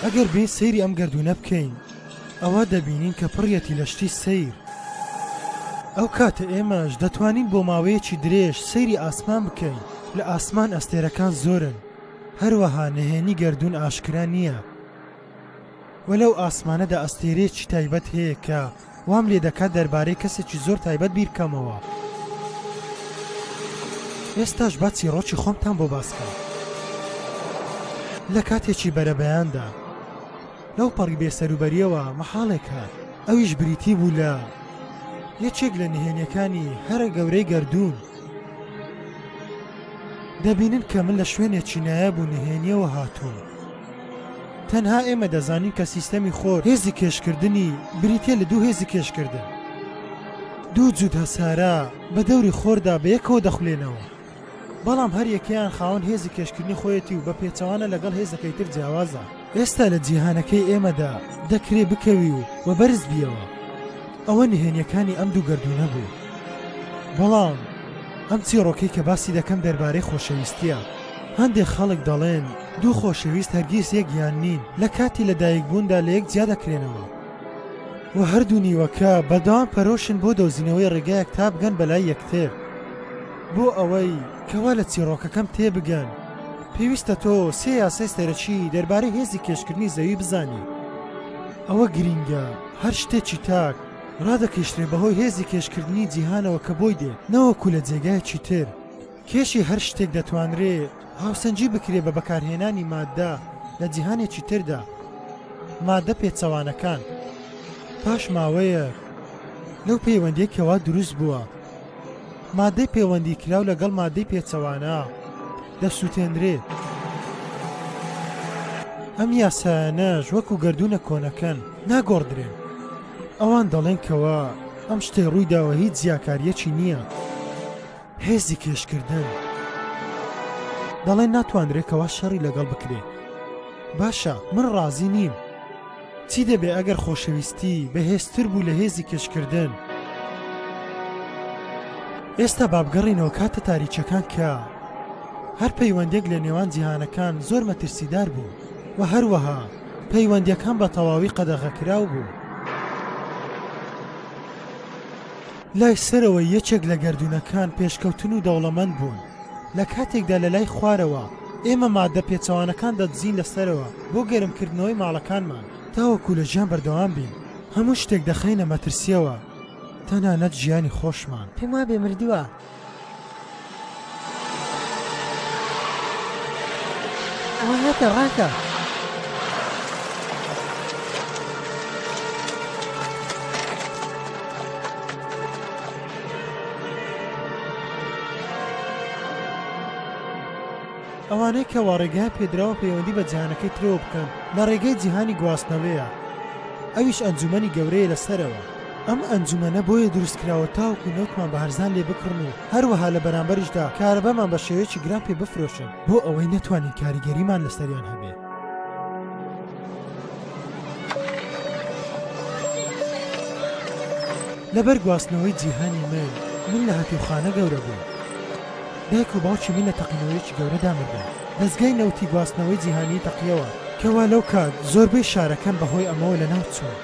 ئەگەر بێین سەیری ئەم گەردوونە بکەین ئەوە دەبینین کە پڕیەتی لە شتی سەیر. ئەو کاتە ئێمەش دەتوانین بۆ ماوەیەکی درێژ سەیری ئاسمان بکەین، لە ئاسمان ئەستێرەکان زۆرن، هەروەها نهێنی گەردوون ئاشکرا نییە و لەو ئاسمانەدا ئەستێرەیەکی تایبەت هەیە کە وام لێ دەکات دەربارەی کەسێکی زۆر تایبەت بیرکەمەوە. ئێستاش با چیڕۆکی خۆمتان بۆ باس کەم. لە کاتێکی بەرەبەیاندا، لەو پەڕی بێ سەروبەرییەوە مەحاڵێک هات، ئەویش بریتی بوو لە یەکێک لە نهێنییەکانی هەرە گەورەی گەردوون. دەبینن کە من لە شوێنێکی نایاب و نهێنییەوە هاتووم. تەنها ئێمە دەزانین کە سیستەمی خۆر هێزی کێشکردنی بریتییە لە دوو هێزی کێشکردن. دوو جووت هەسارە بە دەوری خۆردا بەیەکەوە دەخولێنەوە. بەڵام هەر یەکەیان خاوەن هێزی کێشکردنی خۆیەتی و بە پێچەوانە لەگەڵ هێزەکەی تر جیاوازە. ئێستا لە جیهانەکەی ئێمەدا دەکرێ بکەوی و وە بەرز بیەوە. ئەوە نهێنیەکانی ئەم دوو گەردوونە بوو. بەڵام ئەم چیڕۆکەی کە باسی دەکەم دەربارەی خۆشەویستیە. هەندێک خەڵک دەڵێن دوو خۆشەویست هەرگیز یەک یان نین لە کاتی لە دایک بووندا لە یەک جیا دەکرێنەوە و هەردوو نیوەکە بەردەوام پەرۆشن بۆ دۆزینەوەی ڕێگایەک تا بگەن بەلای یەکتر. بۆ ئەوەی کەوا لە چیڕۆکەکەم تێبگەن، پێویستە تۆ سێ یاسای سەرەکی دەربارەی هێزی کێشکردنی زەوی بزانیت. ئەوە گرینگە هەر شتێکی تاک ڕادەکێشرێت بەهۆی هێزی کێشکردنی جیهانەوە کە بۆی دێت نەوەکو لە جێگایەکی تر. کێشی هەر شتێک دەتوانرێ هاوسەنگی بکرێت بە بەکارهێنانی ماددە لە جیهانێکی تردا، ماددە پێچەوانەکان. پاش ماوەیەک لەو پەیوەندییەی کەوا دروست بووە، ماددەی پێوەندیکراو لەگەڵ ماددەی پێچەوانە دەسووتێنرێت. ئەم یاسایانەش وەکو گەردوونە کۆنەکەن ناگۆڕدرێن. ئەوان دەڵێن کەوا ئەم شتەی ڕوویداوە هیچ جیاکاریەکی نییە. هێزی کێشکردن. دەڵێن ناتوانرێت کەوا شەڕی لەگەڵ بکرێت. باشە من ڕازی نیم. چی دەبێ ئەگەر خۆشەویستی بەهێزتر بوو لە هێزی کەشکردن؟ ئێستا با بگەڕێینەوە کاتە تاریکیەکان کە هەر پەیوەندێک لە نێوان جیهانەکان زۆر مەترسیدار بوو و هەروەها پەیوەندیەکان بە تەواوی قەدەغەکراو بوو. لای سەرەوەی یەکێک لە گەردوونەکان پێشکەوتن و دەوڵەمەند بوون، لە کاتێکدا لە لای خوارەوە ئێمە ماددە پێچەوانەکان دەدزین لە سەرەوە بۆ گەرمکردنەوەی ماڵەکانمان. تاوەکو لە ژیان بەردەوام بین، هەموو شتێک دەخەینە مەترسییەوە، تەنانەت ژیانی خۆشمان. پێموابێ مردووە. ئەوانەی کە واڕێگەیان پێدراوە پەیوەندی بە جیهانەکەی ترەوە بکەن لە ڕێگەی جیهانی گواستنەوەیە ئەویش ئەنجومەنی گەورەیە لە سەرەوە. ئەم ئەنجومەنە بۆیە دروست کراوە تاوەکو نەوتمان بە هەرزان لێ بکڕن و هەروەها لە بەرامبەریشدا کارەبامان بە شێوەیەکی گران پێ بفرۆشن بۆ ئەوەی نەتوانین کاریگەریمان لەسەریان هەبێ. لەبەر گواستنەوەی جیهانی من، من لە هەتیوخانە گەورە بووم. دایک و باوکی من لە تەقینەوەیەکی گەورەدا مردن. دەزگای نەوتی گواستنەوەی جیهانیی تەقییەوە، کەوا لەو کات زۆربەی شارەکان بە هۆی ئەمەوە لەناو چوون.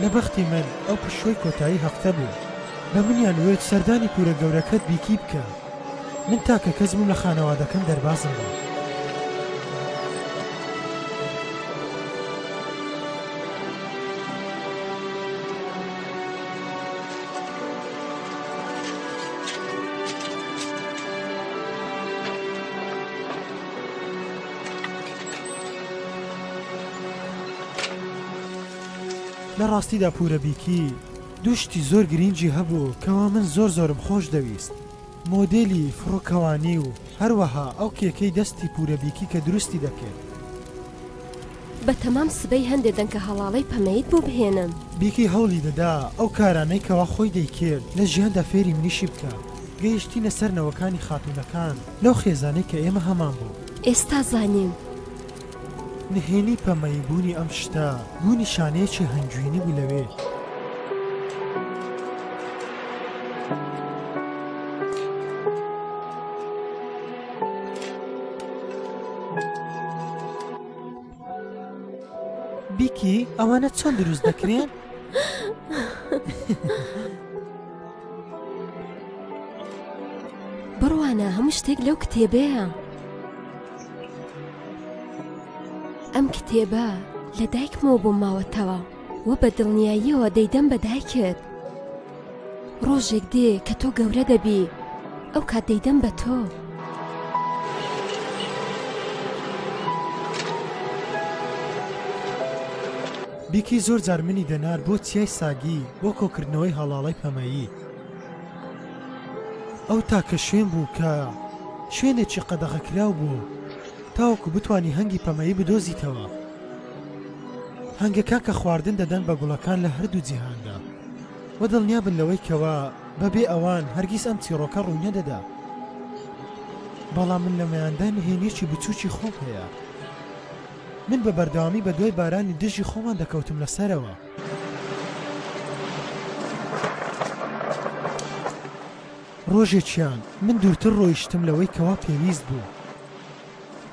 لە بەختی من ئەو پشووەی کۆتایی هەفتە بوو بە منیان وت سەردانی کورە گەورەکەت بیکی بکە من تاکە کەس بووم لە خانەوادەکەم دەربازم بوو. لە ڕاستیدا پورە بیکی دوو شتی زۆر گرینگی هەبوو کەوا من زۆر زۆرم خۆش دەویست مۆدێلی فڕۆکەوانی و هەروەها ئەو کێکەی دەستی پورە بیکی کە دروستی دەکرد. بە تەمام سبەی هەندێ دەنکە هەڵاڵەی پەمەیت بۆ بهێنم. بیکی هەوڵی دەدا ئەو کارانەی کەوا خۆی دەیکرد لە ژیاندا فێری منیشی بکا گەیشتینە سەر نەوەکانی خاتوونەکان. لەو خێزانەی کە ئێمە هەمان بوو. ئێستا زانیم. نهێنی پەمەیی بوونی ئەم شتە بوو نیشانەیەکی هەنگوینی بوو لەوێ. بیکی ئەوانە چۆن دروست دەکرێن؟ بڕوانە هەموو شتێک لەو کتێبەیە ئەم کتێبە لە دایکمەوە بۆ ماوەتەوە و بە دڵنیاییەوە دەیدەم بە دایکت ڕۆژێک دێ کە تۆ گەورە دەبی ئەو کات دەیدەم بە تۆ. بیکی زۆر جار منی دەنارد بۆ چیای ساگی بۆ کۆکردنەوەی هەڵاڵەی پەمەیی. ئەو تاکە شوێن بوو کە شوێنێکی قەدەغەکراو بوو تاوەکو بتانی هەنگی پەمەیی بدۆزیتەوە. هەنگەکان کە خواردن دەدەن بە گوڵەکان لە هەردوو جیهاندا. وە دڵنیا بن لەوەی کەوا بە بێ ئەوان هەرگیز ئەم چیڕۆکە ڕووی نەدەدا بەڵام من لەمەیاندا نهێنیەکی بچووکی خۆم هەیە من بە بەردەوامی بە دوای بارانی دژی خۆمان دەکەوتم لە سەرەوە ڕۆژێکیان من دوورتر ڕۆیشتم لەوەی کەوا پێویست بوو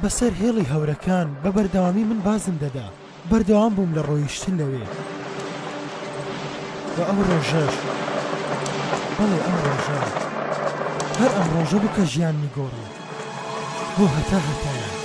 بەسەر هێڵی هەورەکان بە بەردەوامی من بازم دەدا، بەردەوام بووم لە ڕۆیشتن لەوێ و ئەو ڕۆژەش، بەڵێ ئەم ڕۆژە، هەر ئەم ڕۆژە بوو کە ژیانمی گۆڕی بۆ هەتا هەتایە.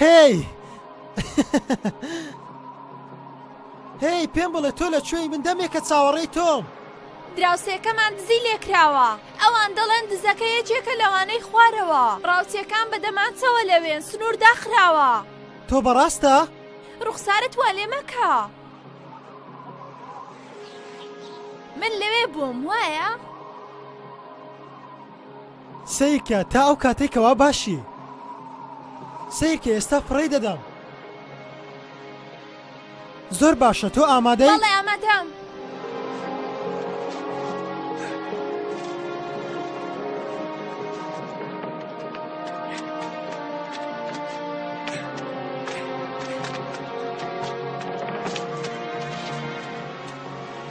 هێی! هێی پێم بڵێ تۆ لە کوێی من دەمێکە چاوەڕێی تۆم. دراوسێکەمان دزی لێکراوە ئەوان دەڵێن دزەکە یەکێکە لەوانەی خوارەوە ڕاوچیەکان بە دەمانچەوە لەوێن سنوور داخراوە تۆ بەڕاستە؟ ڕوخسارت وا لێ مەکە من لەوێ بووم وایە؟ سەیرکە تا ئەو کاتەی کەوا باشی سەیرکە ئێستا فڕێی دەدەم زۆر باشە تۆ ئامادەی بەڵێ ئامادەم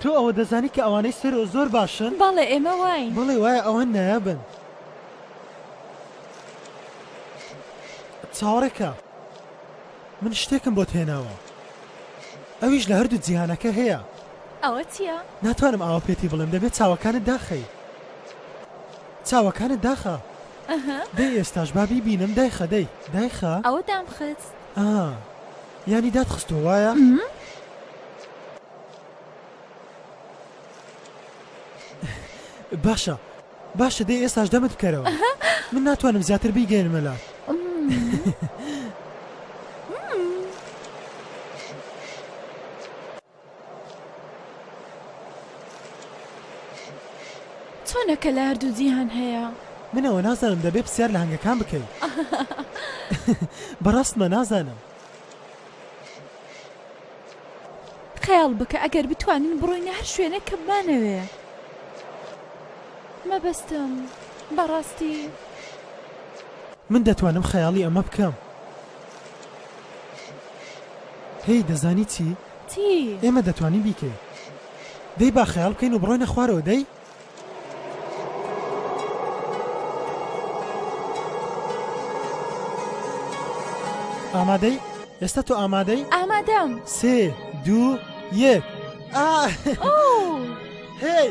تۆ ئەوە دەزانی کە ئەوانەی سەرۆ زۆر باشن؟ بەڵێ ئێمە واین. بەڵێ وایە ئەوان نایابن. چاوەڕێکە من شتێکم بۆت هێناوە ئەویش لە هەردوو جیهانەکە هەیە ئەوە چییە؟ ناتوانم ئاوە پێتی بڵێم دەبێت چاوەکانت داخەی چاوەکانت داخە دەی ئێستاش بابی بینم دایخە دەی دایخە ئەوە دامخت ینی دادخستۆ وایە؟ باشە باشە دەی ئێستاش دەمت بکەرەوە من ناتوانم زیاتر بیگەێنمە لاش چۆنەکە لە هەردوو جیهان هەیە منەوە نازانم دەبێ پرسیار لە هەنگەکان بکەین بەڕاستمە نازانم خەیاڵ بکە ئەگەر بتوانین بڕۆینە هەر شوێنێک کە بمانەوێ مەبەستم بەڕاستی من دەتوانم خەیاڵی ئەمە بکەم هی دەزانی چی؟ چی؟ ئێمە دەتوانین بیکەین دەی با خەیاڵ بکەین و بڕۆینە خوارەوە دەی؟ ئامادەی ئێستا تۆ ئامادەی ئامادەم سێ دوو یەک هی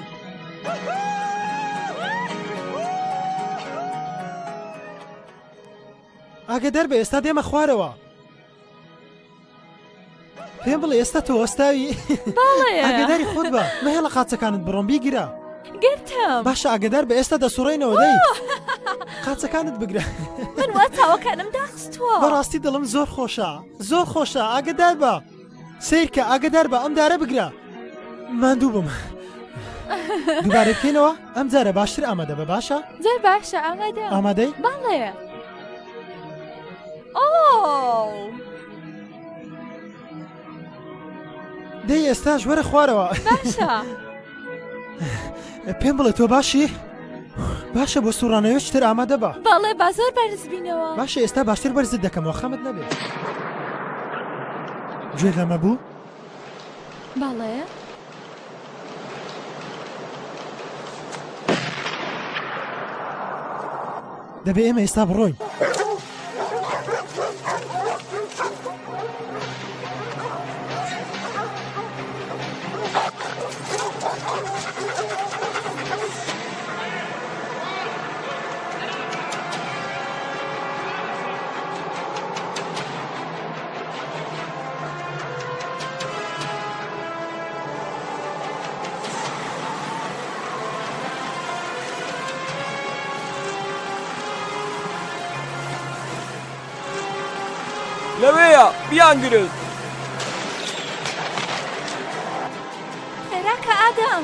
ئاگە دەربە ئێستا دێمە خوارەوە پێم بڵێ ئێستا تۆ ئەستاوی ئەگەداری خۆت بە مەهێڵە قاچەکانت بڕۆم بیگرە گرتم باشە ئەگەدار بە ئێستا دەسوڕێنەوە دەی قاچەکانت بگرە من وا چاوەکانم داخستوە بەڕاستی دڵم زۆر خۆشە زۆر خۆشە ئاگدار بە سیرکە ئاگدار بە ئەم دارە بگرە ماندوو بم دوبارە بکەینەوە ئەم جارە باشتر ئامادە بە باشە زۆر باشە ئامادە ئامادەی باڵێ دەی ئێستاش وەرە خوارەوە پێم بڵێ تۆ باشی؟ باشە بۆ سوڕانەوە شتر ئامادە بە بەڵێ با زۆر بەرزبینەوە باشە ئێستا باشتر بەرزت دەکەمەوە خەمت نەبێت گوێ لەمە بوو؟ بەڵێ. دەبێ ئێمە ئێستا بڕۆین. لەوەیە بیانگرن خێراکە ئادەم.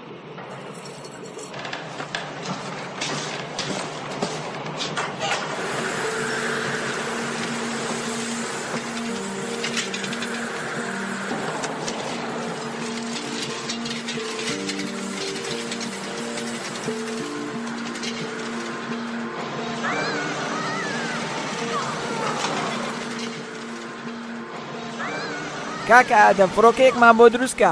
کاکە ئادەم فڕۆکەیەکمان بۆ دروستکە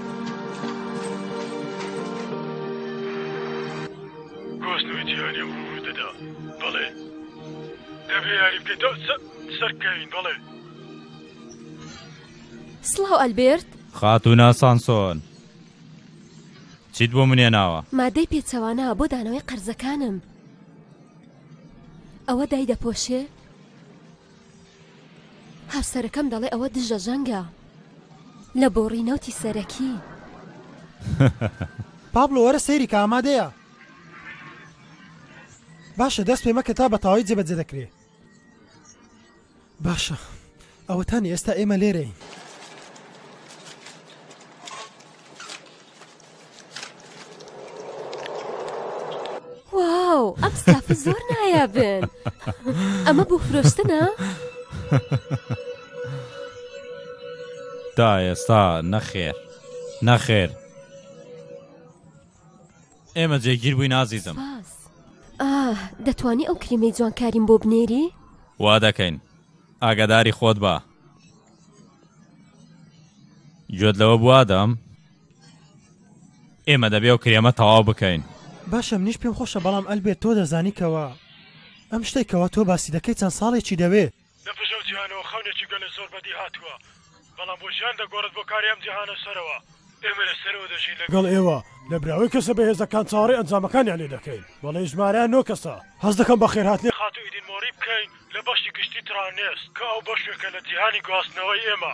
گواستنەوەی جیهانیە و ڕووی دەدا بەڵێ دەبێ یاری بکەین تا سەرکەوین بەڵێ. سڵاو ئەلبێرت. خاتوونە سانسۆن چیت بۆ من هێناوە؟ مادەی پێچەوانە بۆ دانەوەی قەرزەکانم. ئەوە دایدەپۆشێ؟ هاوسەرەکەم دەڵێ ئەوە دژە جەنگە لە بۆڕی نەوتی سەرەکی. پابلۆ وەرە سەیری کە ئامادەیە. باشە دەست پێ مەکە تا بەتەواوی جێبەجێ دەکرێ. باشە ئەوەتانی ئێستا ئێمە لێرەین. واو ئەم ستافە زۆر نایابن ئەمە بۆ فرۆشتنە؟ تا ئێستا نەخێر نەخێر ئێمە جێگیر بووی نازیزم سپاس ئاه دەتوانی ئەو کریمەی جوانکاریم بۆ بنێری؟ وا دەکەین ئاگاداری خۆت بە گوێت لەوە بوادەم ئێمە دەبێ ئەو کرێمە تەواو بکەین. باشە منیش پێم خۆشە بەڵام ئەلبێرت تۆ دەزانی کەوا ئەم شتەی کەوا تۆ باسی دەکەی چەند ساڵێکی دەوێ. لە پشت ئەو جیهانەوە خەونێکی گەلە زۆر بەدی هاتووە بەڵام بۆ ژیان دەگۆڕێت بۆ کاری ئەم جیهانە سەرەوە. ئێمە لە سەرەوە دەژین لە. گەڵ ئێوە لە براوەی کەسە بەهێزەکان چاوەڕێی ئەنجامەکانیان لێ دەکەین بەڵێی ژمارە نۆ کەسە هەست دەکەم بە خێر هاتنی. خاتوو ئیدین مۆری بکەین لە بەشی گشتی تڕانێس کە ئەو بەشێکە لە جیهانی گواستنەوەی ئێمە.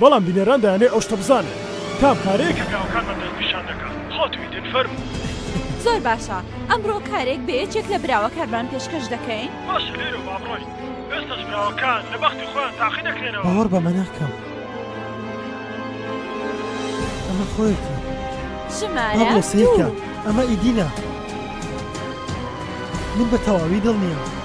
بەڵام بینەران دەیانەوێت ئەو شتە بزانن کام کارەیە کە براوەکانمان دەست نیشان دەکەن خۆت ویتت فەرموو. زۆر باشە ئەمڕۆ کارێک بە یەکێک لە براوەکانمان پێشکەش دەکەین. باشە لێرەوە با بڕۆین ئێستاش براوەکان لە بەختی خۆیان تاقی دەکرێنەوە. باوەڕ بەمە ناکەم ئەمە خۆیەتی. ژمارە دوو. با بڕۆ سەیرکە ئەمە ئیدی نا من بە تەواوی دڵنیام.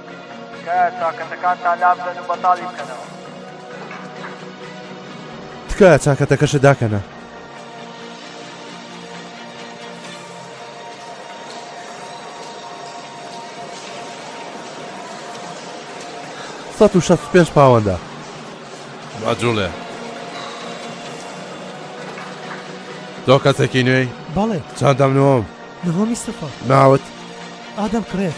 تکایە چاکەتەکانتان لابدەن و بەتاڵی بکەنەوە. تکایە چاکەتەکەشت داکەنە. سەد و شەست و پێنج پاوەندە. با جوڵێ. تۆ کەسێکی نوێی؟ بەڵێ. چەندەم نۆم؟ نهۆمی سفر. ناوت؟ ئادەم کرێک.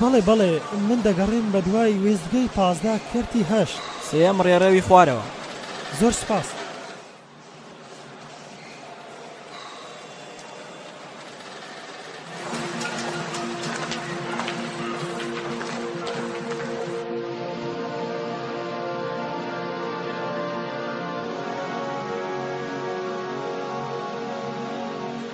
بەڵێ بەڵێ من دەگەڕێم بە دوای وێستگەی پازدە کەرتی هەشت. سێیەم ڕێڕەوی خوارەوە. زۆر سپاس.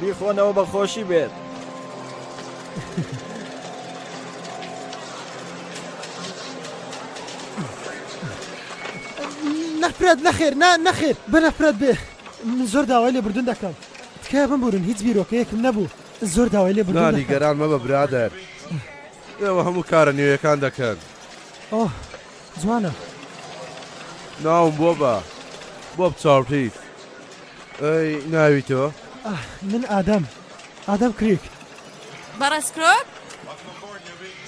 بیخۆنەوە بە خۆشی بێت. نەفرەت نەخێر نا نەخێر بە نەفرەت بێ من زۆر داوای لێ بردون دەکەم تکای بمبورن هیچ بیرۆکەیەکم نەبوو زۆر داوای لێ بردون نانی گەران مەبە برادەر ئێوە هەموو کارە نوێیەکان دەکەن. جوانە. ناوم بۆبە بۆب چاوتریک ئەی ناوی تۆ؟ ئاه من ئادەم ئادەم کریک. بەڕێز کرۆک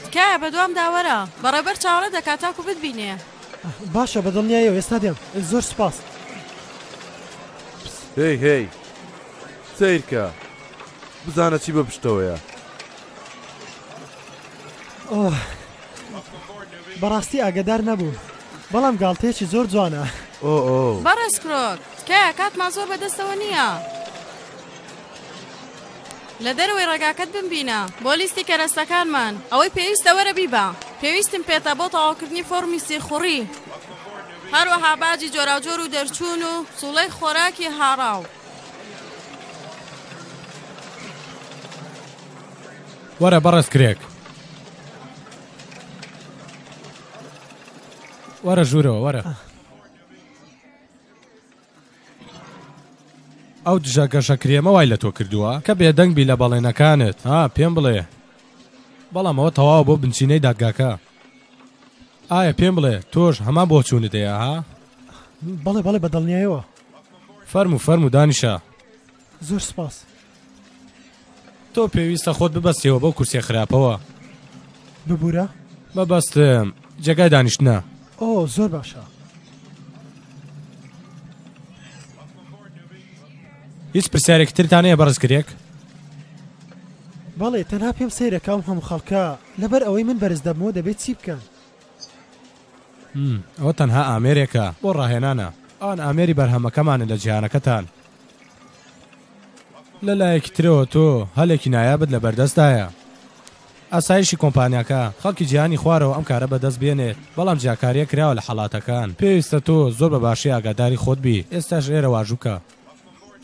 تکایە بەدوامدا وەرە بەڕێبەر چاوەڕێت دەکات تاکو بتبینێ. باشە بەدڵنیایەوە ئێستا دێم زۆر سوپاس. هەی هەی سەیرکە بزانە چی بە پشتەوەیە. ئۆه بەڕاستی ئاگەدار نەبووم بەڵام گاڵتەیەکی زۆر جوانە ئۆۆ بەڕێز کرۆک تکایە کاتمان زۆر بەدەستەوە نییە لە دەرەوەی ڕێگاکەت بمبینە بۆ لیستی کەرەستەکانمان ئەوەی پێویستە وەرە بیبە پێویستم پێتە بۆ تەواوکردنی فۆرمی سیخوڕی هەروەها باجی جۆراوجۆر و دەرچوون و سوڵەی خۆراکی هاڕاو وەرە بەڕێز کرێک. وەرە ژوورەوە وەرە. ئەو دژە گەشە کرێمە وای لە تۆ کردووە کە بێدەنگ بی لە بەڵێنەکانت ها پێم بڵێ بەڵام ئەوە تەواوە بۆ بنچینەی دادگاکە ئایا پێم بڵێ تۆش هەمان بۆ چوونت هەیە ها بەڵێ بەڵێ بە دڵنیایەوە فەرمو فەرمو دانیشە زۆر سپاس. تۆ پێویستە خۆت ببەستیەوە بەو کورسیە خراپەوە ببورە مەبەستم جێگای دانیشتنە ئۆ زۆر باشە هیچ پرسیارێکی ترتان هەیە بەڕز کرێک بەڵێ تەنها پێم سەیرەکەم هەم خەڵکە لەبەر ئەوەی من بەرز دەبمەوە دەبێت چی بکەن م، ئەوە تەنها ئامێرێکە بۆ ڕاهێنانە. ئەوان ئامێری بەرهەمەکەمانن لە جیهانەکەتان. لە لایەکی ترەوە تۆ هەلێکی نایابت لە بەردەستدایە. ئاسایشی کۆمپانیاکە، خەڵکی جیهانی خوارەوە ئەم کارە بەدەست بێنێت، بەڵام جیاکارییەک کراوە لە حەڵاتەکان. پێویستە تۆ زۆر بە باشی ئاگاداری خۆت بیت. ئێستاش لێرە واژوو بکە.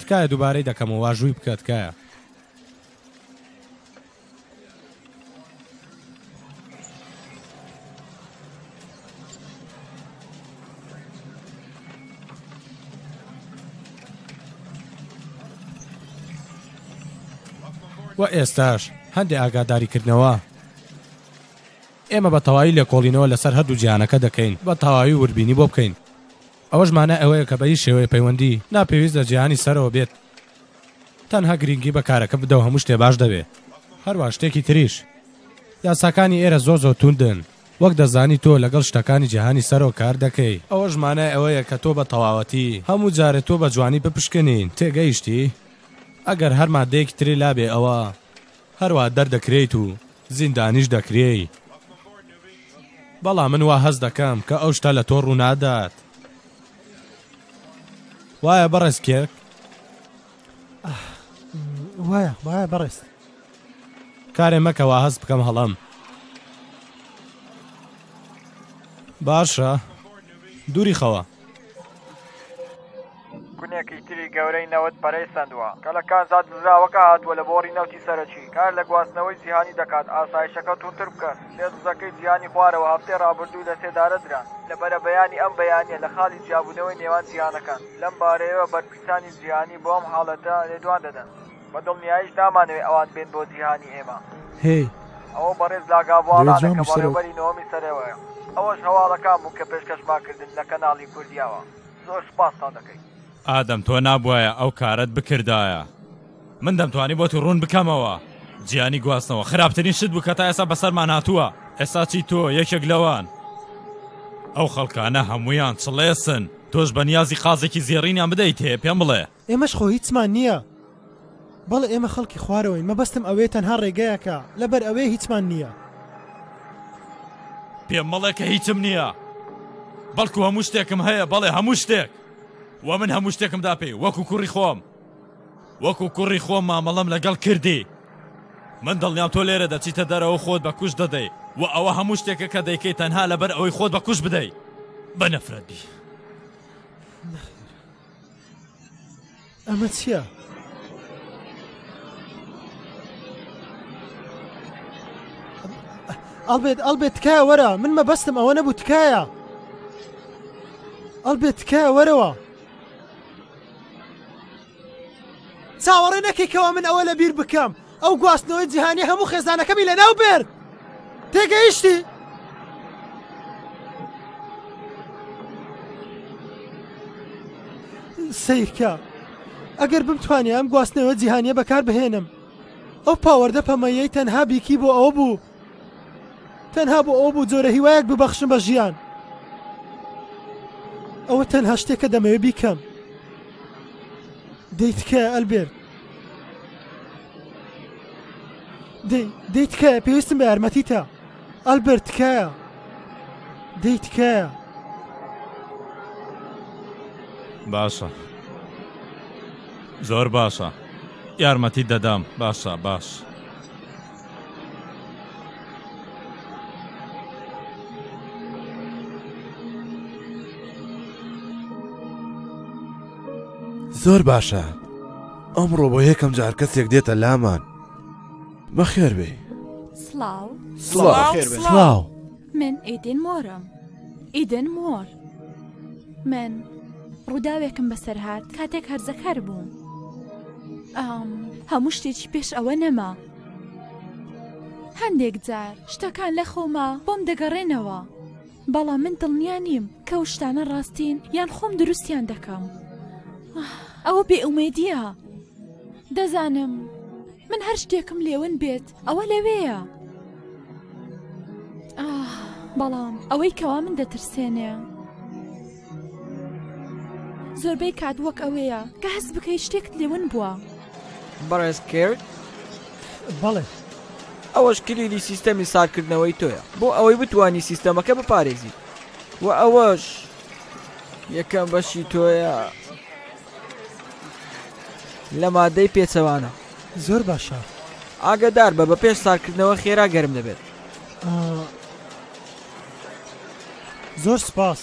تکایە دووبارەی دەکەمەوە، واژووی بکە تکایە. و ئێستاش هەندێک ئاگاداریکردنەوە ئێمە بە تەواوی لە کۆڵینەوە لەسەر هەردوو جیانەکە دەکەین بە تەواوی وربینی بۆ بکەین ئەوەش مانە ئەوەیە کە بەی شێوەیە پەیوەندی ناپێویست لە جیهانی سەرەوە بێت تەنها گرینگی بە کارەکە بدەو هەموو شتێ باش دەبێ هەروا شتێکی تریش یاساکانی ئێرە زۆر زۆر توندن وەک دەزانی تۆ لەگەڵ شتەکانی جیهانی سەرەوە کار دەکەی ئەوەش مانای ئەوەیە کە تۆ بە تەواوەتی هەموو جارێ تۆ بە جوانی بپشکنین تێگەیشتی ئەگەر هەر مادەیەکی تری لابێ ئەوا هەروا دەردەکرێیت و زیندانیش دەکرێی بەڵام من وا هەست دەکەم کە ئەو شتە لە تۆ ڕوونادات. وایە بەڕێز کێک وایە وایە بەڕێز کارێ مەکەوە هەست بکەم هەڵم باشە دووری خەوە کونێکی تری گەورەی نەوت پەرەی سندووە کە لە کانزا دزراوەکە هاتووە لە بۆڕی نەوتی سەرەکی کار لە گواستنەوەی جیهانی دەکات ئاسایشەکە تونتر بکەن سێ دزەکەی جیهانی خوارەوە هەفتەی رابردوو لەسێدارەدران لە بەرەبەیانی ئەم بەیانییە لە خاڵی جیابوونەوەی نێوان جیهانەکان، لەم بارەیەوە بەرپرسانی جیهانی بۆ ئەم حاڵەتە لێدوان دەدەن، بە دڵنیاییش نامانەوێت ئەوان بێن بۆ جیهانی ئێمە. هێی. ئەوە بەڕێز لاگابواڵانە کە بەڕێوەبەری نۆەمی سەرەوەیە. ئەوەش هەواڵەکان بوون کە پێشکەشمان کردن لە کەناڵی کوردیاوە. زۆر سوپاستان دەکەین. ئادەم تۆ نابوایە ئەو کارەت بکردایە. من دەمتوانی بۆتی ڕوون بکەمەوە جیانی گواستنەوە خراپترین شت بوو کە تا ئێستا بەسەرمان هاتووە ئێستا چی تۆ یەکێک لەوان ئەو خەڵکانە هەموویان چڵێسن تۆش بەنیازی قازێکی زێڕینیان بدەیت هەیە پێم بڵێ ئێمەش خۆ هیچمان نییە. بەڵێ ئێمە خەڵکی خوارەوەین مەبەستم ئەوەیە تەنها ڕێگایەکە لەبەر ئەوەیە هیچمان نییە. پێم مەڵێ کە هیچم نییە بەڵکو هەموو شتێکم هەیە بەڵێ هەموو شتێک وە من هەموو شتێکم دا پێی وەکو کوڕی خۆم. وەکو کوڕی خۆم مامەڵەم لەگەڵ کردی. من دڵنیام تۆ لێرە دەچیتە دەرەوەو خۆت بە کوشت دەدەی و ئەوە هەموو شتێکە کە دەیکەی تەنها لەبەر ئەوەی خۆت بە کوشت بدەی. بە نەفرەت بی. نەخێر. ئەمە چیە؟ ئەڵبێت ئەڵبێت تکایە وەرە من مەبەستم ئەوە نەبوو تکایە ئەڵبێت تکایە وەرەوە چاوەڕێ نەکەی کەوا من ئەوە لە بیر بکەم ئەو گواستنەوەی جیهانی هەموو خێزانەکەمی لە ناو بێر تێگەیشتی سیرکە ئەگەر بمتوانێ ئەم گواستنەوە جیهانیە بەکار بهێنم ئەو پاوەەردە پەمەیەی تەنها بیکی بۆ ئەو بوو تەنها بۆ ئەوە بوو جۆرە هیوایەک ببەخشم بە ژیان ئەوە تەنها شتێکە دەمەوێ بیکەم دەی تکایە ئەلبێر دەی تکایە پێویستم بە یارمەتی تا ئەلبەر تکایە دەی تکایە باشە زۆر باشە یارمەتی دەدەم باشە باش. زۆر باشە ئەمڕۆ بۆ یەکەم جار کەسێک دێتە لامان بەخێر بێ سڵاو سڵاو من ئیدن مۆرم ئیدن مۆر من ڕووداوێکم بەسەر هات کاتێک هەرزەکار بووم هەموو شتێکی پێش ئەوە نەما هەندێک جار شتەکان لە خۆما بۆم دەگەڕێنەوە بەڵام من دڵنیا نیم کە و شتانە ڕاستین یان خۆم دروستیان دەکەم ئەوە بێئومێدیە دەزانم من هەر شتێکم لێون بێت ئەوە لەوێیە ئاه بەڵام ئەوەی کەوا من دەترسێنێ زۆربەی کات وەک ئەوەیە کە هەست بکەی شتێکت لێون بووە بەڕێز کرد بەڵێ ئەوەش کلیلی سیستەمی ساکردنەوەی تۆیە بۆ ئەوەی بتانی سیستەمەکە بپارێزی و ئەوەش یەکەم بەشی تۆیە لە ماددەی پێچەوانە. زۆر باشە. ئاگادار بە بە پێش سارکردنەوە خێرا گەرم دەبێت. زۆر سپاس.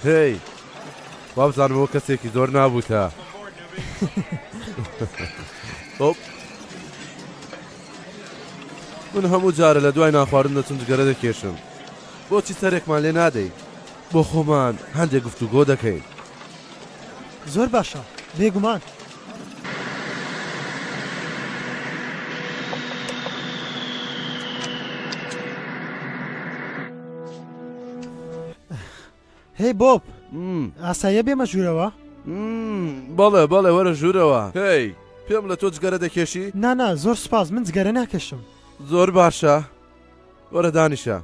هی وابزانەوە کەسێکی زۆر نابووتە. من هەموو جارە لە دوای ناخواردن دەچم جگەرە دەکێشم بۆچی سەرێکمان لێ نادەیت بۆ خۆمان هەندێک گفتوگۆ دەکەین. زۆر باشە، بێگومان. هەی بۆب، ئاساییە بێمە ژوورەوە؟ بەڵێ بەڵێ وەرە ژوورەوە هەی پێم لە تۆ جگەرە دەکێشی؟ نانا زۆر سپاس من جگەرە ناکێشم. زۆر باشە وەرە دانیشە.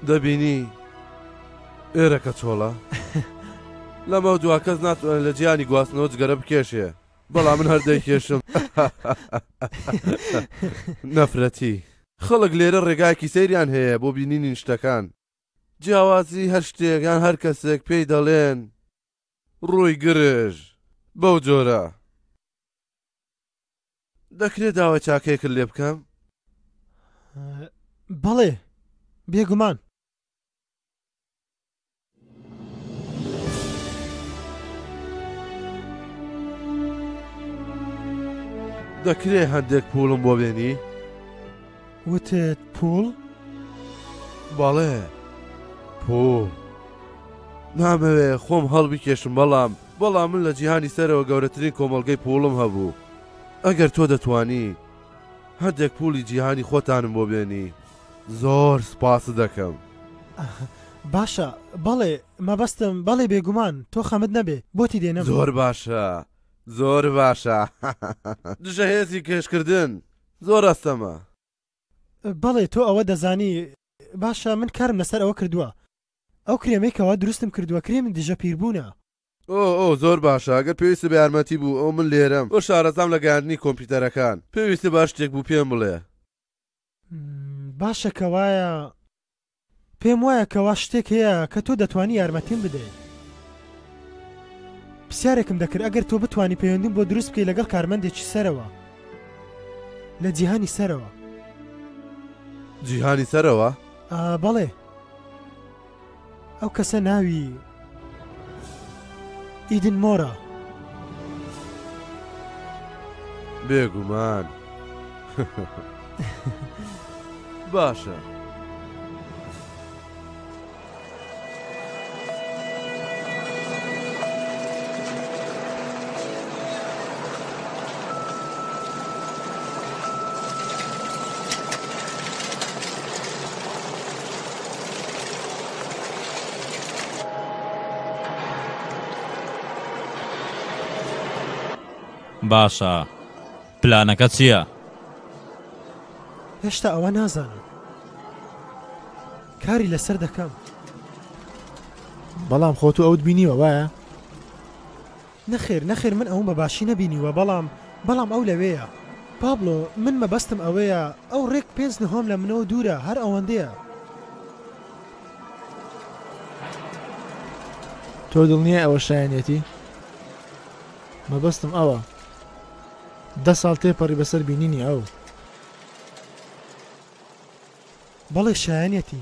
دەبینی ئێرەکە چۆڵە لەمە دوا کەس ناتوانن لە جیانی گواستنەوە جگەرە بکێشێ بەڵام من هەردەی کێشم نەفرەتی خەڵک لێرە ڕێگایەکی سەیریان هەیە بۆ بینینی شتەکان جیاوازی هەر شتێکان هەر کەسێک پێی دەڵێن ڕووی گرژ بەو جۆرە. دەکرێ داوای چاکەیەکت لێ بکەم؟ بەڵێ، بێگومان. دەکرێ هەندێک پووڵم بۆ بێنی؟ وتت پووڵ؟ بەڵێ پووڵ. نامەوێ خۆم هەڵبکێشم بەڵام بەڵام من لە جیهانی سەرەوە گەورەترین کۆمەڵگەی پووڵم هەبوو ئەگەر تۆ دەتانی هەندێک پوولی جیهانی خۆتانم بۆ بێنی زۆر سپاست دەکەم. باشە بەڵێ مەبەستم بەڵێ بێگومان تۆ خەمت نەبێ بۆتی دێنم. زۆر باشە زۆر باشە دژە هێزی کێشکردن. زۆر ئەستەمە. بەڵێ تۆ ئەوە دەزانی. باشە من کارم لەسەر ئەوە کردووە. ئەو کرێمەی کەوا دروستم کردووە کرێمی دژە پیربوونە. ئۆ ئۆ زۆر باشە ئەگەر پێویستت بە یارمەتی بوو ئەو من لێرەم بۆ شارەزام لە گەیاندنی کۆمپیوتەرەکان پێویستت بە هەر شتێک بوو پێم بڵێ. باشە کەوایە. پێم وایە کەوا شتێک هەیە کە تۆ دەتوانی یارمەتیم بدەی. پرسیارێکم دەکرد ئەگەر تۆ بتوانی پەیوەندیم بۆ دروست بکەی لەگەڵ کارمەندێکی سەرەوە لە جیهانی سەرەوە. جیهانی سەرەوە؟ ئا بەڵێ. ئەو کەسە ناوی. ئیدن مۆرە. بێگومان. باشە. باشە پلانەکە چییە؟ هێشتا ئەوە نازانم کاری لەسەر دەکەم بەڵام خۆتو ئەوت بینیوە وایە؟ نەخێر نەخێر من ئەوم بە باشی نەبینیوە بەڵام بەڵام ئەو لەوێیە. پابلۆ، من مەبەستم ئەوەیە ئەو ڕێک پێنج نهۆم لە منەوە دوورە هەر ئەوەندەیە. تۆ دڵنیای ئەوە شایەنیەتی؟ مەبەستم ئەوە دە ساڵ تێپەڕی بەسەر بینینی ئەو. بەڵێ شایەنیەتی.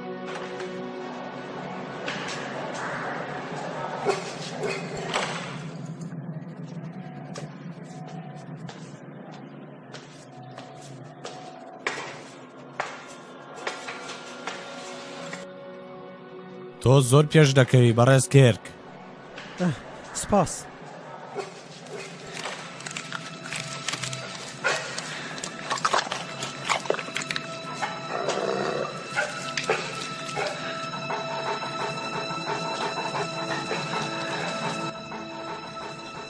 تۆ زۆر پێش دەکەوی بەڕێز کێرک سپاس.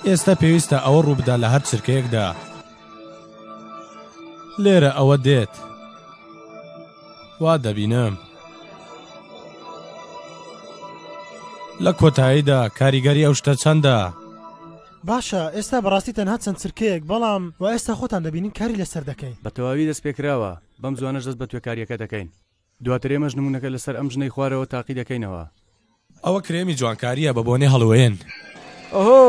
ئێستا پێویستە ئەوە ڕووبدا لە هەر چرکەیەکدا لێرە ئەوە دێت. وا دەبینم. لە کۆتاییدا کاریگەری ئەو شتە چەندە؟ باشە ئێستا بەڕاستی تەنها چەند چرکەیەک بەڵام و ئێستا خۆتان دەبینین کاری لەسەر دەکەین. بە تەواوی دەست پێکراوە، بەم زوانەش دەست بە توێکارییەکە دەکەین. دواتر ئێمەش نموونەکە لەسەر ئەم ژنەی خوارەوە تاقی دەکەینەوە. ئەوە کرێمی جوانکارییە بە بۆنەی هەڵۆوێن. ئۆهۆ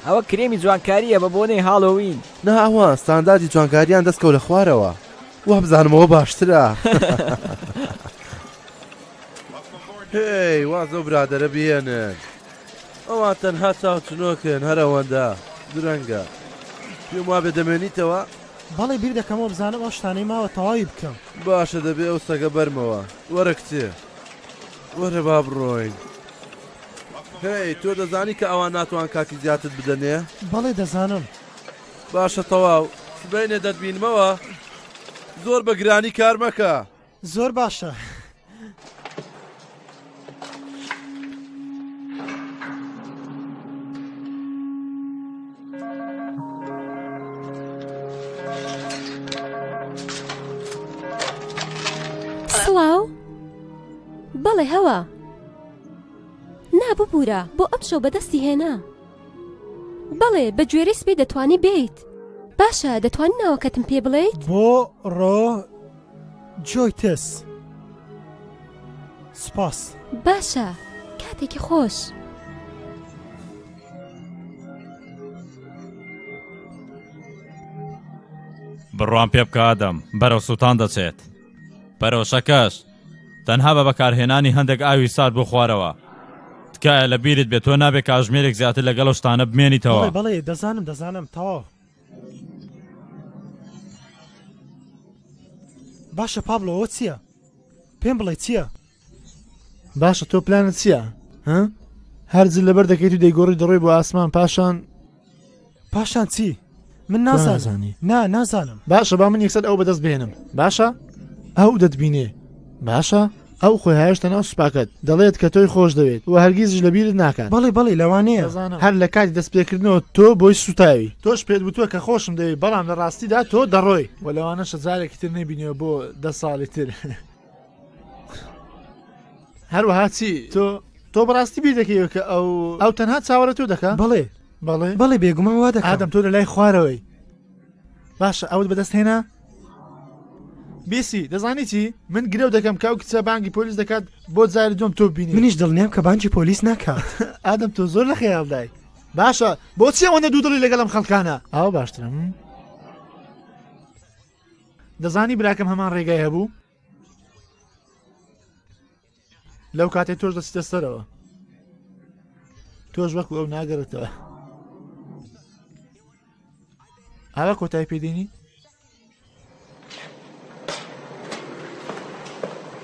ئەوە کرێمی جوانکارییە بە بۆنەی هاڵۆوین. نا ئەوە ستانداردی جوانکارییان دەست کەوتە خوارەوە وابزانم ئەوە باشترە. هێی واز لەو برادەرە بهێنن ئەوان تەنها چاوچنۆکن هەر ئەوەندە درەنگە پێم وابێ دەمێنیتەوە؟ بەڵی بیر دەکەمەوە بزانم ئەو شتانەی ماوە تەواوی بکەم. باشە دەبێ ئەو سەگە بەرمەوە وەرە کچێ. وەرە با بڕۆین هەی تۆ دەزانی کە ئەوان ناتوان کاتی زیاتر بدەنێ بەڵێ دەزانم باشە تەواو سبینێ دەتبینمەوە زۆر بە گرانی کار مەکە زۆر باشە. سڵاو بەڵێ هەوە نا ببوورە بۆ ئەم شەو بەدەستی هێنا بەڵێ بە گوێرە سپی دەتوانی بیت باشە دەتوان ناوەکەتم پێ بڵێیت بۆ ڕۆ جۆیتس سپاس باشە کاتێکی خۆش. بڕوام پێ بکە ئادەم بەرەو سووتان دەچێت پەرۆشەکەش تەنها بە بەکارهێنانی هەندێک ئاوی سارد بۆ خوارەوە تکایە لە بیرت بێت تۆ نابێت کاژمێرێک زیاتر لەگەڵ شتانە بمێنیتەوە بەڵێ دەزانم دەزانم تەواو باشە پابلەوە چییە؟ پێم بڵێ چییە؟ باشە تۆ پلانت چییە ها هەرجل لەبەر دەکەیت و دەیگۆڕی دەڕۆی بۆ ئاسمان پاشان پاشان چی من نازانانی نا نازانم باشە با من یەکسەر ئەو بەدەست بێنم باشە ئەو دەتبینێ باشە ئەو خۆی هاێشتە ناو سوپاکەت دەڵێت کە تۆی خۆش دەوێت و هەرگیزش لە بیرت ناکات بەڵێ بەڵی لەوانەیە هەر لە کاتی دەست پێکردنەوە تۆ بۆی سوتاوی تۆش پێت وتوە کە خۆشم دەوێت بەڵام لە ڕاستیدا تۆ دەڕۆی و لەوانە شەزارێکی تر نەبینەوە بۆ دە ساڵی تر. هەروەها چی تۆ تۆ بەڕاستی بیر دەکەیەوە کە ئەو ئەو تەنها چاوەڕێ تۆ دەکە بەڵێ بەڵێ بەڵێ بێگومان وا دەکەم ئادەم تۆ لە لای خوارەوەی باشە ئەوت بەدەست هێنا بیسی دەزانی چی من گرەو دەکەم کە ئەو کچە بانگی پۆلیس دەکات بۆ جاری دوم تۆ بینی منیش دڵنیام کە بانجی پۆلیس ناکات ئادەم تۆ زۆر لە خەیاڵدای باشە بۆچی ئەوەندە دوو دڵی لەگەڵم خەڵکانە ئاو باشترم دەزانی براکەم هەمان ڕێگای هەبوو لەو کاتێ تۆش دەچتە سەرەوە تۆش وەکو ئەو ناگەرێتەوە ئاوا کۆتای پێدێنی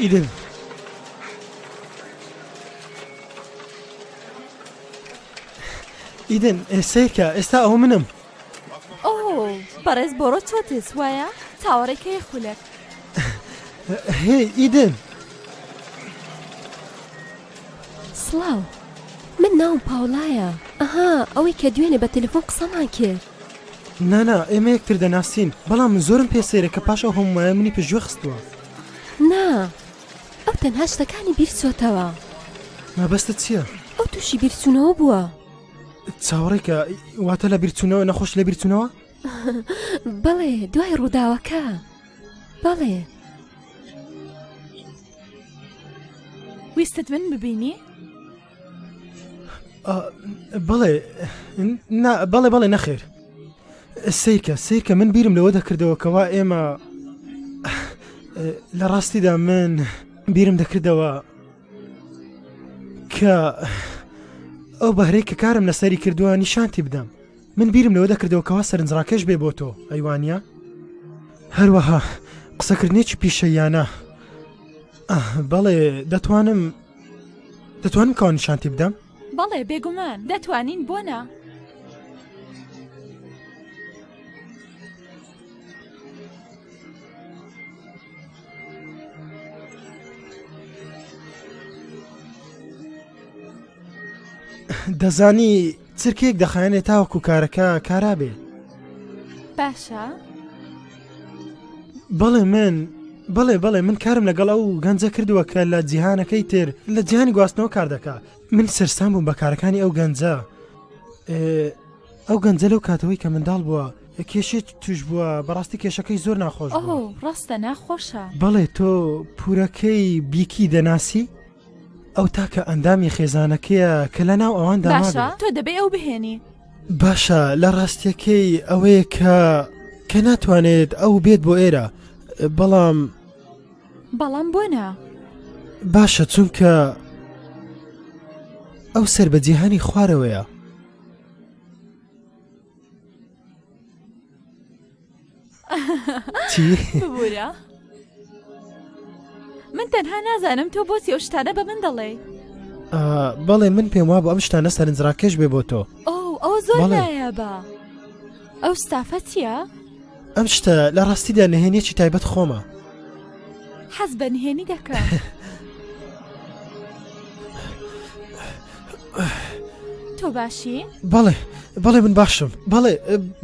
ئیدن ئیدن ئێسەیکە ئێستا ئەو منم ئۆ بەڕێز بۆڕۆ چۆتێس وایە تاوەڕێکەیە خولەک هی ئیدن سڵاو من ناوم پاوڵایە ئەها ئەوەی کە دوێنێ بە تەلفۆن قسەمان کرد نانا ئێمە یەکتر دەناسین بەڵام من زۆرم پێ سەیرە کە پاش ئەو هەموومایە منی پژوێ خستووە. نا ئەو تەنها شتەکانی بیرچۆتەوە. مەبەستت چییە؟ ئەو تووشی بیرچوونەوە بووە. چاوەڕێکە واتە لە بیرچوونەوە نەخۆش لە بیرچوونەوە؟ بەڵێ دوای ڕووداوەکە بەڵێ. ویستت من ببینی؟ بەڵێ بەڵێ بەڵێ نەخێر سیرکە سیرکە من بیرم لەوە دەکردەوە کەوا ئێمە لە ڕاستیدا من بیرم دەکردەوە کە ئەو بەهرەی کە کارم لەسەری کردووە نیشانتی بدەم من بیرم لەوە دەکردەوە کەوا سەرنجڕاکەش بێ بۆ تۆ ئەیوانە هەروەها قسەکردنێکی پیشەیانە بەڵێ دەتوانم دەتوانم کەوە نیشانتی بدەم؟ بەڵێ بێگومان دەتوانین بۆ نا. دەزانی چرکەیەک دەخایەنێ تاوەکو کارەکە کارا بێ. باشە؟ بەڵێ من بەڵێ بەڵێ من کارم لەگەڵ ئەو گەنجە کردووە کە لە جیهانەکەی تر لە جیهانی گواستنەوە کار دەکا من سەرسام بووم بە کارەکانی ئەو گەنجە ئەو گەنجە لەو کاتەوەی کە منداڵ بووە کێشێت توش بووە بەڕاستی کێشەکەی زۆر ناخۆش ڕاستە ناخۆشە بەڵێ تۆ پورەکەی بیکی دەناسی؟ ئەو تاکە ئەندامی خێزانەکەیە کە لە ناو ئەوان داباشە تۆ دەبێ ئەو بهێنی باشە لە ڕاستیەکەی ئەوەیە کە کە ناتوانێت ئەو بێت بۆ ئێرە بەڵام بەڵام بۆ نا باشە چونکە ئەو سەر بە جیهانی خوارەوەیە چی؟ ببوورە من تەنها نازانم تۆ بۆ سێو شتانە بە من دەڵێ بەڵێ من پێم وا بۆ ئەم شتانە سەرنجڕاکەش بێ بۆ تۆ ئەو زۆر بە ئەو ستافە چییە؟ ئەم شتە لە ڕاستیدا نهێنێکی تایبەت خۆمە حەز بە نهێنی دەکا. تۆ باشی؟ بەڵێ بەڵێ من باشم بەڵێ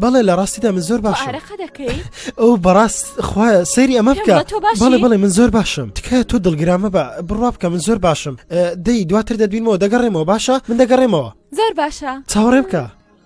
بەڵێ لە ڕاستیدا من زۆر باش دەکەی ئەو بەڕاست خخوا سەیری ئەمە بکە بەڵێ بڵێ من زۆر باشم تکە تۆ دڵگرامە بە بڕوا بکە من زۆر باشم دەی دواتر دەبینەوە دەگەڕێمەوە باشە من دەگەڕێمەوە زۆر باشە چاوەڕێ بکە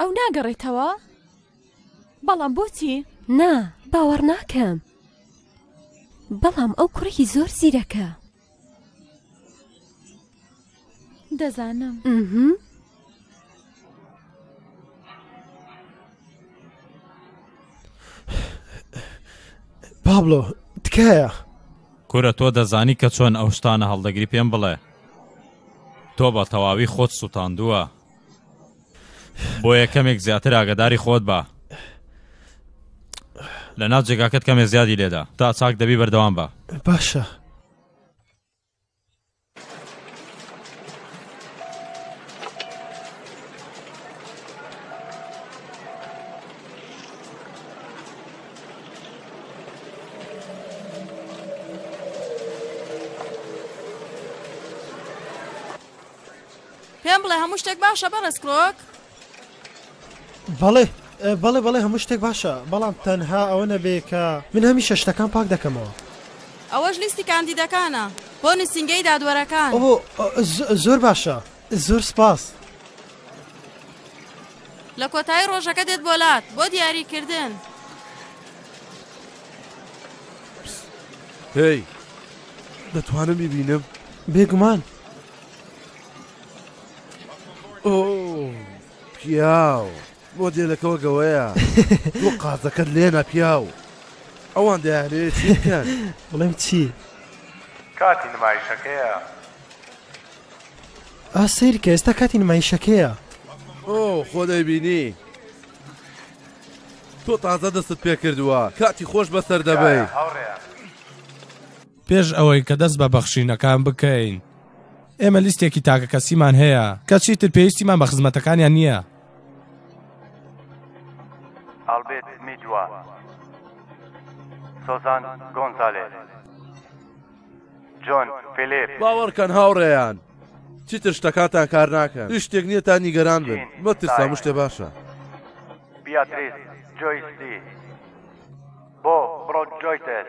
ئەو ناگەڕێتەوە؟ بەڵام بۆچی؟ نا، باوەڕ ناکەم. بەڵام ئەو کوڕێکی زۆر زیرەکە. دەزانم. پابلۆ تکایە. کورە تۆ دەزانی کە چۆن ئەو شتانە هەڵدەگری پێم بڵێ تۆ بە تەواوی خۆت سووتاندووە بۆ یەکەمێک زیاتر ئاگداری خۆت بە لە ناو جێگاکەت کەمێ زیادی لێدا تا چاک دەبی بەردەوام بە باشە پێم بڵێ هەموو شتێک باشە بەڕێز کرۆک؟ بەڵێ بەڵێ بەڵێ هەموو شتێک باشە بەڵام تەنها ئەوە نەبێ کە. من هەمیشە شتەکان پاک دەکەمەوە. ئەوەش لیستی کاندیدەکانە بۆ نوسینگەی دادوەرەکان. ئۆۆ زۆر باشە زۆر سپاس. لە کۆتایی ڕۆژەکە دێت بۆ لات بۆ دیاری کردن. هێی دەتوانم بیبینم؟ بێگومان. پیاو مۆدێلەکەەوە گەوەیە بۆ قازەکەت لێنا پیاو ئەوان دەیانێت بڵێم چی کاتی نمایشەکەیە ئاسیر کە ئێستا کاتی نمایشەکەیە ئۆ خۆ دەیبینی تۆ تازە دەستت پێ کردووە کاتی خۆش بەسەر دەبێت. پێش ئەوەی کە دەست بە بەخشینەکان بکەین، ئێمە لیستێکی تاکەکەسیمان هەیە کە چیتر پێویستیمان بە خزمەتەکانیان نییە. ئالبێرت میدوا، سۆزان گۆنزالێز، جۆن فیلیپ. باوەڕکەن هاوڕێیان، چیتر شتەکانتان کار ناکەن. هیچ شتێک نییە تا نیگەران بن. مەترسن، هەموو شتێک باشە. بیاتریس جۆیس دی بۆ برۆدجۆیتێس.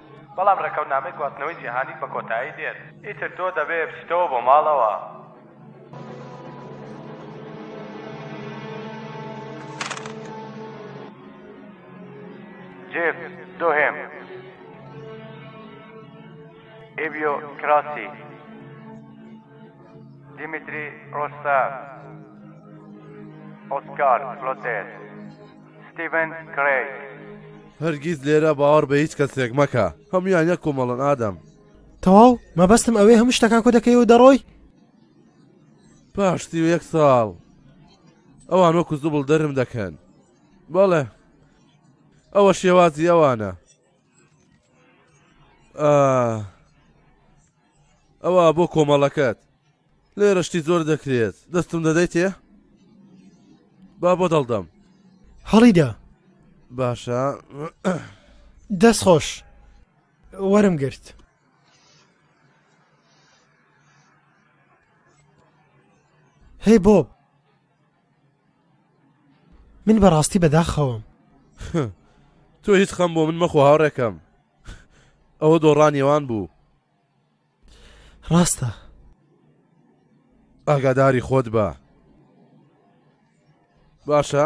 بەڵام ڕێکەوتنامەی گواستنەوەی جیهانیت بە کۆتایی دێت ئیتر تۆ دەبێ بچیتەوە بۆ ماڵەوە. جێف دۆهێم ئێبیۆ کراسی دیمیتری ڕۆستا ئۆسکار فلۆتێر ستیڤن کرەیگ. هەرگیز لێرە باوەڕ بە هیچ کەسێک مەکە هەموان یەک کۆمەڵن ئادەم. تەواو مەبەستم ئەوێ هەموو شتەکان کۆ دەکەیەوە دەڕۆی پاش سی و یەک ساڵ ئەوان وەکو زبڵ دەرم دەکەن بەڵێ ئەوە شێوازی ئەوانە ئەوە بۆ کۆمەڵەکەت لێرە شتی زۆر دەکرێت. دەستم دەدەیتێ؟ با بۆ دڵ دەم. هەڵیدا. باشە. دەست خۆش. وەرم گرت. هەی بۆب من بەڕاستی بەداخەوەم تۆ هیچ خەم بۆ من مەخۆ هاوڕێکەم ئەوە دۆڕانیێوان بوو ڕاستە ئاگاداری خۆت بە باشە